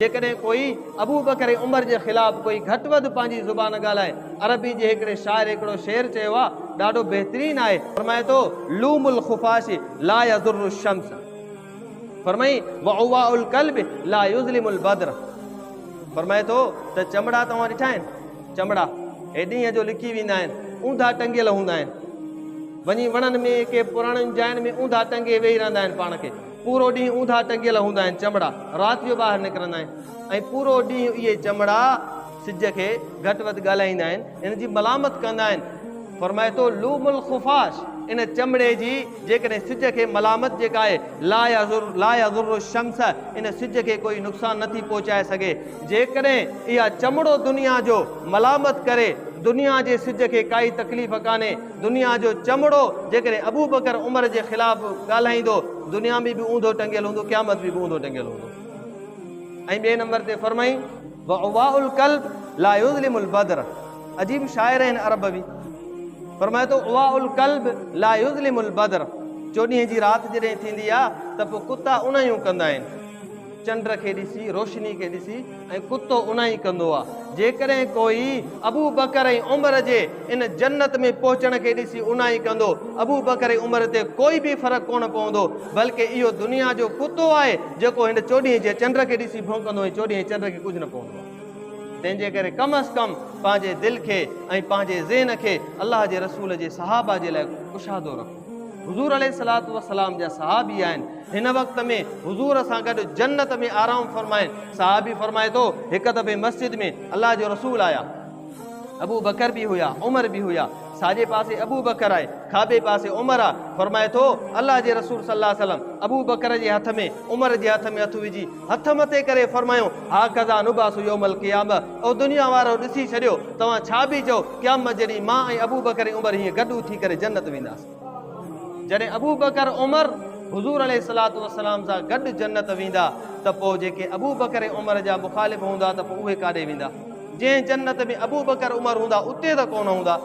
جيڪڏهن ڪوئي Abu Bakr ۽ Umar جي خلاف ڪوئي گهٽ وڌ پنهنجي زبان ڳالهائي، عربي جي هڪڙي شاعر هڪڙو شعر چيو آهي، ڏاڍو بهترين آهي، فرمائي ٿو، لوم الخفاش لا يضر الشمس فرمائين، وعواء القلب لا يظلم البدر فرمائي ٿو ته چمڙا توهان ڏٺا آهن؟ چمڙا هي ڏينهن جو لڪي ويندا آهن، اونڌا ٽنگيل هوندا آهن، وڃي وڻن ۾ ڪي پراڻين جاين ۾ اونڌا ٽنگي ويهي رهندا آهن پاڻ کي. پورو ڏينهن اونڌا ٽنگيل هوندا آهن چمڙا رات جو ٻاهر نڪرندا آهن ۽ پورو ڏينهن اهي چمڙا سج کي گهٽ وڌ ڳالهائيندا آهن ان جي ملامت ڪندا آهن فرمائي ٿو لوم الخفاش ان چمڙي جي جيڪڏهن سج کي ملامت جيڪا آهي لا يضر لا يضر الشمس ان سج کي ڪوئي نقصان نه ٿي پهچائي سگهي جيڪڏهن اها چمڙو دنيا جو ملامت ڪري دنيا جي سج کي ڪائي تڪليف ڪانهي دنيا جو چمڙو جيڪڏهن ابوبڪر عمر جي خلاف ڳالهائيندو دنيا ۾ به اوندو ٽنگيل هوندو قيامت ۾ به اوندو ٽنگيل هوندو ۽ ٻئي نمبر تي فرمائي وعواء القلب لا يظلم البدر عجيب شاعر آهن عرب به فرمائي ٿو عواء القلب لا يظلم البدر چوڏهين جي رات جڏهن ٿيندي آهي ته پوء ڪتا انهيون ڪندا آهن چنڊ کي ڏسي، روشني کي ڏسي ۽ ڪتو ان ئي ڪندو آ. جيڪڏهن ڪوئي ابو بڪر ۽ عمر جي ان جنت ۾ پهچڻ کي ڏسي ان ئي ڪندو، ابو بڪر ۽ عمر تي ڪوئي به فرق ڪونه پوندو، بلڪ اهو دنيا جو ڪتو آهي جيڪو هن چوڏهين جي چنڊ کي ڏسي ڀونڪندو ۽ چوڏهين چنڊ کي ڪجهه نه پوندو آ. تنهن جي ڪري ڪم از ڪم پنهنجي دل کي ۽ پنهنجي ذهن کي الله جي رسول جي صحابه جي لاء ڪشادو رکو. حضور عليه الصلاة والسلام جا صحابي آهن هن وقت ۾ حضور سان گڏ جنت ۾ آرام فرمائن صحابي فرمائي ٿو هڪ دفعي مسجد ۾ الله جو رسول آيا ابو بکر به هيا عمر به هيا ساڄي پاسي ابو بکر آهي کاٻي پاسي عمر آ فرمائي ٿو الله جي رسول صلي الله عليه وسلم ابو بکر جي هٿ ۾ عمر جي هٿ ۾ هٿ وجهي هٿ مٿي ڪري فرمايو، هاڪذا نبعث يوم القيامة، او دنيا وارؤ ڏسي ڇڏيو، توهان ڇا پي چئو، قيامت جي ڏينهن مان ۽ ابوبڪر ۽ عمر هيئن گڏ اٿي ڪري جنت وينداسين. جڏهن ابوبڪر عمر حضور عليه الصلوة والسلام سان گڏ جنت ويندا ته پوء جيڪي ابوبڪر ۽ عمر جا مخالف هوندا ته پوء اهي ڪاڏي ويندا؟ جنهن جنت ۾ ابوبڪر عمر هوندا اتي ته ڪونه هوندا.